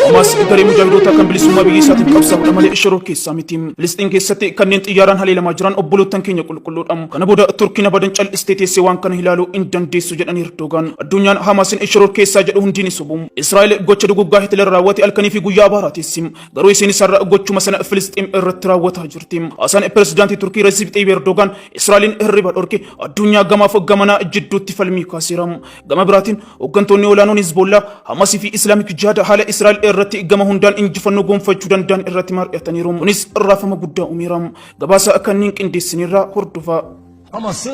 Hamas garee mujaahidoota kan bilisummaa biyya isaatiif qabsaa'udha malee shiroo keessaa miti. Filisxiin keessatti kanneen xiyyaaraan haleelamaa jiran obboloottan keenya qulqulluudha. Kana booda Turkiin abadan cal'istee teessee waan kana ilaaluu hin dandeessu jedhan Erdogaan. Addunyaan Hamaasin shiroo keessaa jedhu hundi ni sobu. Israa'el gocha duguggaa Hitler raawwate halkanii fi guyyaa abaaraa teessi. Garuu isiin isarra gochuma sana Filisxiim irratti raawwataa jirti. Hasan pirezidaantii Turkii Resiip Xayyib Erdogaan Israa'eliin hirriba dhorke addunyaa gamaaf gamanaa jidduutti falmii kaaseera. Gama biraatiin hooggantoonni olaanoon Hizboollaa, Hamasii fi Islaamik Jihaad haala Israa'el irratti gama hundaan injifannoo gonfachuu danda'an irratti mari'ataniiru. Kunis raafama guddaa uumeera. Gabaasa kanneen qindeessineerraa hordofaa. Hamas'ı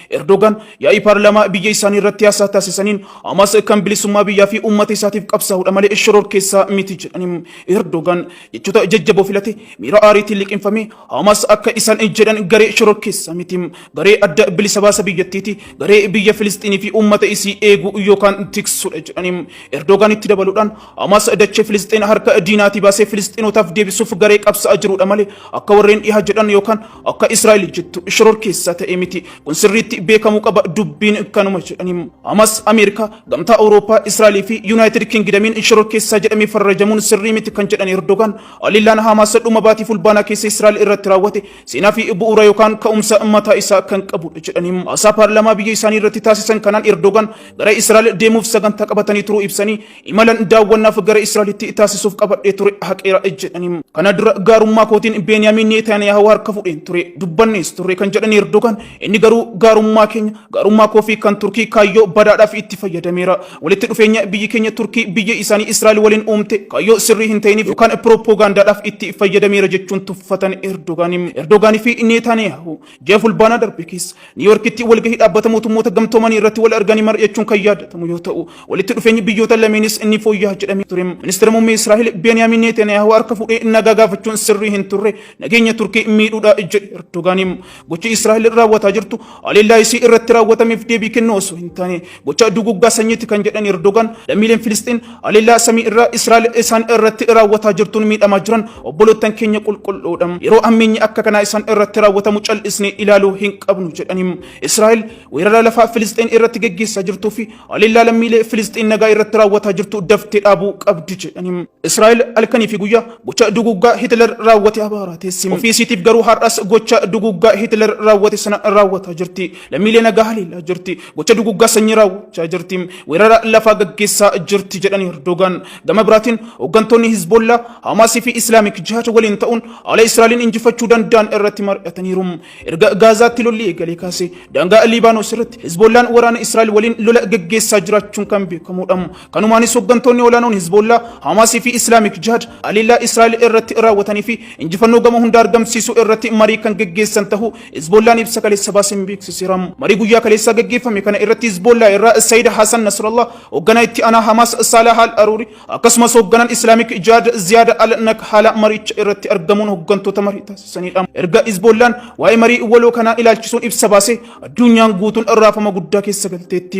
Erdogan yaa'ii paarlaamaa biyya isaanii irratti haasaa taasisaniin Hamaas kan bilisummaa biyyaa fi uummata isaatiif qabsaa'udha malee shororkeessaa miti jedhaniin. Erdogan jechoota jajjaboo filate miira aariitiin liqimfame Hamaas akka isaan jedhan garee shororkeessaa miti. Garee adda bilisa baasa biyyattiiti. Garee biyya Filisxiinii fi uummata isii eegu yookaan tiksudha jedhaniin. Erdogan itti dabaluudhaan Hamaas dachee Filisxiin harka diinaatii baasee Filisxiinotaaf deebisuuf garee qabsaa'aa jirudha malee akka warreen dhihaa jedhan yookaan Akka Israa'el jettu shoror keessaa ta'e miti. Kun sirriitti beekamuu qaba dubbiin kanuma jedhaniim. Hamas Ameerikaa, Gamtaa Awurooppaa, Israa'el fi Yuunaayitid Kingidamiin shoror keessaa jedhamee farrajamuun sirrii miti kan jedhan Erdogaan haleellaan Haamaas dhuma baatii fulbaanaa keessa Israa'el irratti raawwate seenaa fi bu'uura yookaan ka'umsa mataa isaa kan qabudha jedhaniim. Haasaa paarlaamaa biyya isaanii irratti taasisan kanaan Erdogaan gara Israa'el deemuuf sagantaa qabatanii turuu ibsanii Imalan daawwannaaf gara Israa'elitti taasisuuf qabadhee ture haqeera jedhaniiru. Kana dura gaarummaa kootiin Beeniyaamin Neetaaniyaahu harka fudheen ture dubbannees turre kan jedhan Erdogaan inni garuu gaarummaa keenya gaarummaa koo fi kan Turkii kaayyoo badaadhaaf itti fayyadameera. Walitti dhufeenya biyyi keenya Turkii biyya isaanii Israa'el waliin uumte kaayyoo sirrii hin ta'iniif yookaan pirooppogaandaadhaaf itti fayyadameera jechuun tuffatan Erdogaan. Erdogaanii fi Neetaaniyaahu Ji'a fulbaanaa darbe keessa Niiwuyoorkitti walgahii dhaabbata mootummoota gamtoomanii irratti wal arganii mari'achuun kan yaadatamu yoo ta'u, walitti dhufeenyi biyyoota lameenis ni fooyya'a jedhamee ture. Ministeera muummee Israa'el Beeniyaamin Neetaniyaahu harka fuudhee nagaa gaafachuun sirrii hin turre, nageenya Turkii miidhuudha jedhe Erdogaan. Gochi Israa'el raawwataa jirtu haleellaa isii irratti raawwatameef deebii kennuu osoo hin taane Gocha duguggaa sanyiitti kan jedhan Erdogan lammiileen Filisxeen haleellaa samii irraa Israa'el isaan irratti raawwataa jirtuun miidhamaa jiran obboloottan keenya qulqulluudha. Yeroo ammeenyi akka kanaa isaan irratti raawwatamu cal'isnee ilaaluu hin qabnu jedhaniim. Israa'el weerara lafaa Filisxeen irratti geggeessaa jirtuu fi haleellaa lammiilee Filisxeen nagaa irratti raawwataa jirtu daftee dhaabuu qabdi jedhaniim. Israa'el halkanii fi guyyaa gocha duguggaa Hitler raawwate abaaraa teessi. Ofii isiitiif garuu har'as gocha duguggaa Hitler raawwate sana raawwataa jirti. Lammiilee nagaa haleellaa jirti. gocha duguggaa sanyii raawwachaa jirti. Weerara lafaa gaggeessaa jirti jedhan Erdogaan. Gama biraatiin hooggantoonni Hizboollaa, Hamaasii fi Islaamik Jihaad waliin ta'uun haala Israa'eliin injifachuu danda'an irratti mari'ataniiru. Erga Gaazaatti lolli eegalee kaasee daangaa Liibaanos irratti Hizboollaan waraana Israa'el waliin lola gaggeessaa jiraachuun kan beekamudha. Kanumaanis hooggantoonni olaanoon Hizboollaa, Hamaasii fi Islaamik Jihaad haleellaa Israa'el irratti raawwatanii fi injifannoo gama hundaa argamsiisuu irratti marii kan gaggeessan ta'uu Hizboollaan ibsa kaleessa baaseen beeksiseera. Marii guyyaa kaleessaa gaggeeffame kana irratti Hizboollaa irraa Sayyid Hasan Nasrallah, hoogganaa itti aanaa Hamaas Saalaah Al Aruuri, akkasumas hoogganaan Islaamik Jihaad Ziyaad Al Nakhaala mariicha irratti argamuun hooggantoota marii taasisaniidha. Erga Hizboollaan waa'ee marii waloo kanaa ilaalchisuun ibsa baasee addunyaan guutuun raafama guddaa keessa galteetti.